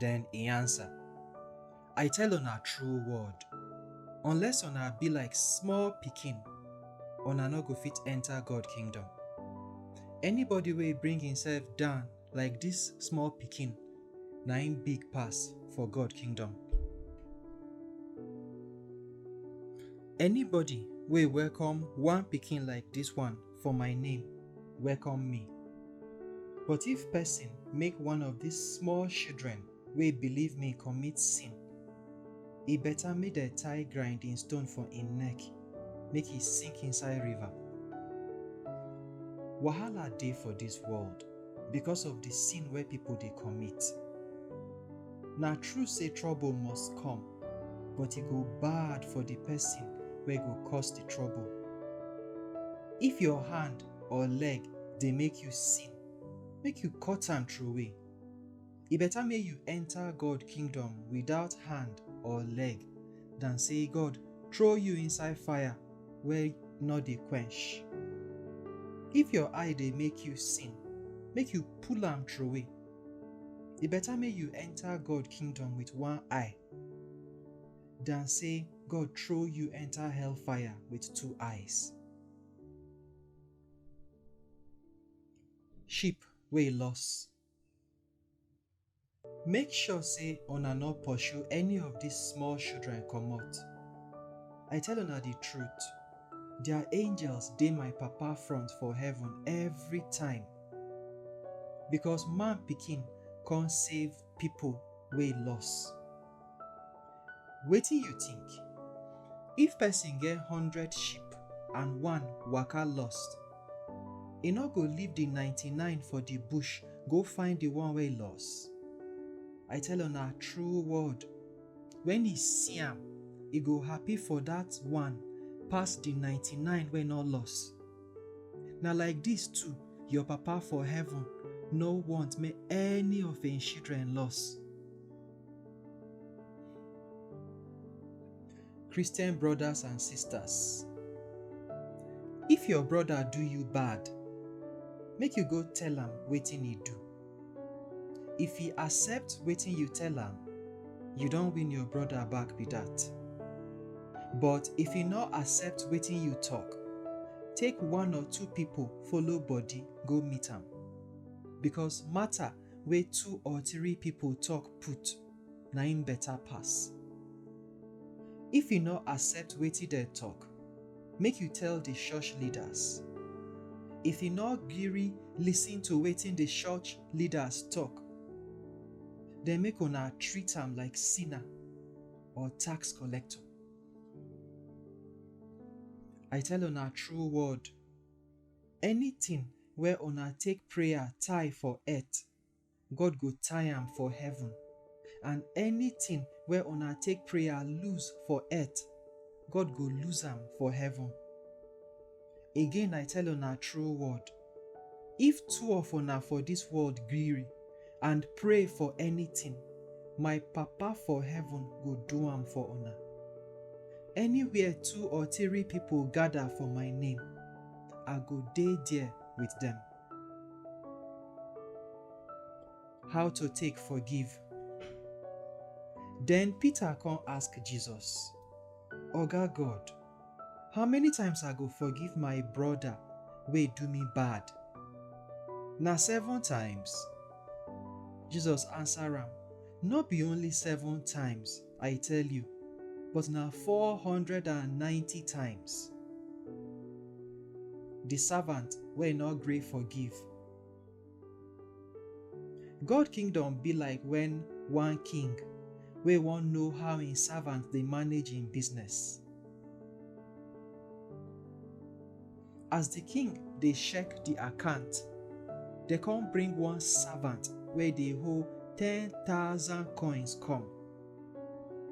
Then he answer, I tell una true word, unless una be like small pikin, una no go fit enter God kingdom. Anybody wey bring himself down like this small pikin, na him big pass for God kingdom. Anybody wey welcome one pikin like this one for my name, welcome me. But if person make one of these small children wey believe me commit sin, e better make dem tie grinding stone for im neck, make e sink inside river. Wahala dey for this world because of the sin wey people dey commit. Na true sey trouble must come, but e go bad for di pesin wey go cause di trouble. If your hand or leg dey make you sin, make you cut am trowey. E beta make you enta God kingdom without hand or leg dan sey God trow you inside fire wey nor dey quench. If your eye dey make you sin, make you pull am trowey. E better make you enter God kingdom with one eye than say God throw you enter hellfire with two eyes. Sheep wey loss. Make sure say una no pursue any of these small children comot. I tell una the truth, their angels dey my Papa front for heaven every time Because man pikin come save people wey loss. Wetin you think? If person get hundred sheep and one waka lost, e no go leave the ninety-nine for the bush go find the one wey loss? I tell una true word, when e see am, e go happy for that one pass the ninety-nine wey no loss. Na like dis too your Papa for heaven no want make any of im children loss. Christian brothers and sisters, if your brother do you bad, make you go tell am wetin e do. If he accept wetin you tell am, you don win your brother back be that. But if he no accept wetin you talk, take one or two people follow body go meet am. Because matter wey two or three people talk put na im better pass. If you no accept wetin dem talk, make you tell the church leaders. If you no gree listen to wetin the church leaders talk, then make una treat am like sinner or tax collector. I tell una true word, anything wey una take prayer tie for earth, God go tie am for heaven, and anything wey una take prayer lose for earth, God go lose am for heaven. Again I tell una true word, if two of una for dis world gree and pray for anything, my Papa for heaven go do am for una. Anywhere two or three people gather for my name, I go dey there with dem. How to take forgive. Then Peter come ask Jesus, Oga God, how many times I go forgive my brother wey do me bad? Na seven times? Jesus answer am, No be only seven times, I tell you, but na four hundred and ninety times. The servant wey no gree forgive. God kingdom be like when one king wey wan know how im servant dey manage im business. As di king dey check di account, dem come bring one servant wey dey hold ten thousand coins come.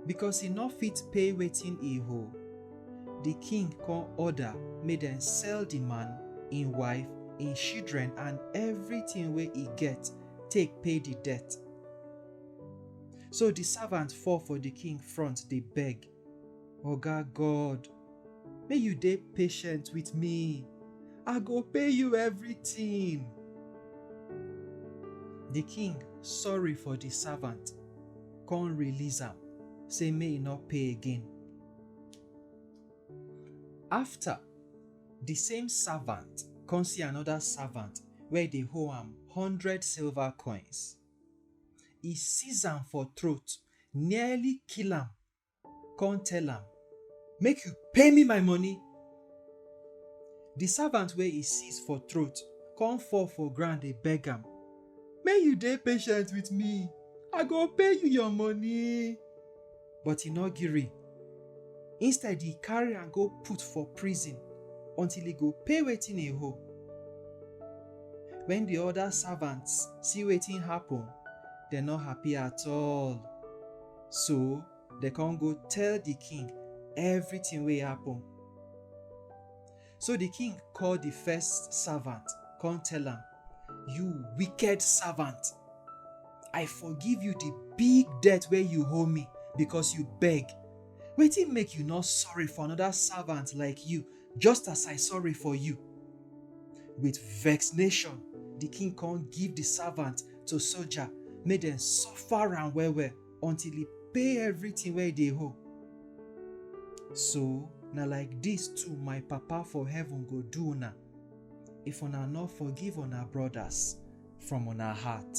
Because e no fit pay wetin e hold, di king come order make dem sell di man, im wife, im children and everything wey e get take pay di debt. So di servant fall for di king front dey beg, Oga God, make you dey patient with me. I go pay you everything. The king sorry for the servant, come release am, say make e no pay again. After, the same servant come see another servant wey dey owe am hundred silver coins. E seize am for throat, nearly kill am come tell am, Make you pay me my money. The servant wey e seize for throat come fall for ground dey beg am, Make you dey patient with me, I go pay you your money. But e no gree. Instead, e carry am go put for prison until e go pay wetin e owe. When the other servants see wetin happen, dem no happy at all. So, dem come go tell the king everything wey happen. So the king call the first servant, come tell am, You wicked servant, I forgive you the big debt where you owe me because you beg. Wetin make you not sorry for another servant like you, just as I sorry for you? With vexation, the king come give the servant to soldier, made them suffer and well well. until e pay everything wey e dey owe. So, na like dis too my Papa for heaven go do una, if una no forgive una brothers from una heart.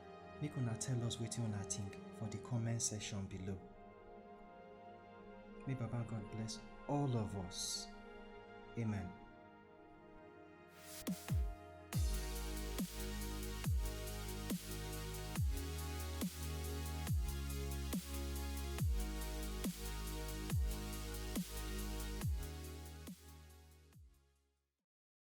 Make una tell us wetin una think for the comment section below. May Baba God bless all of us. Amen.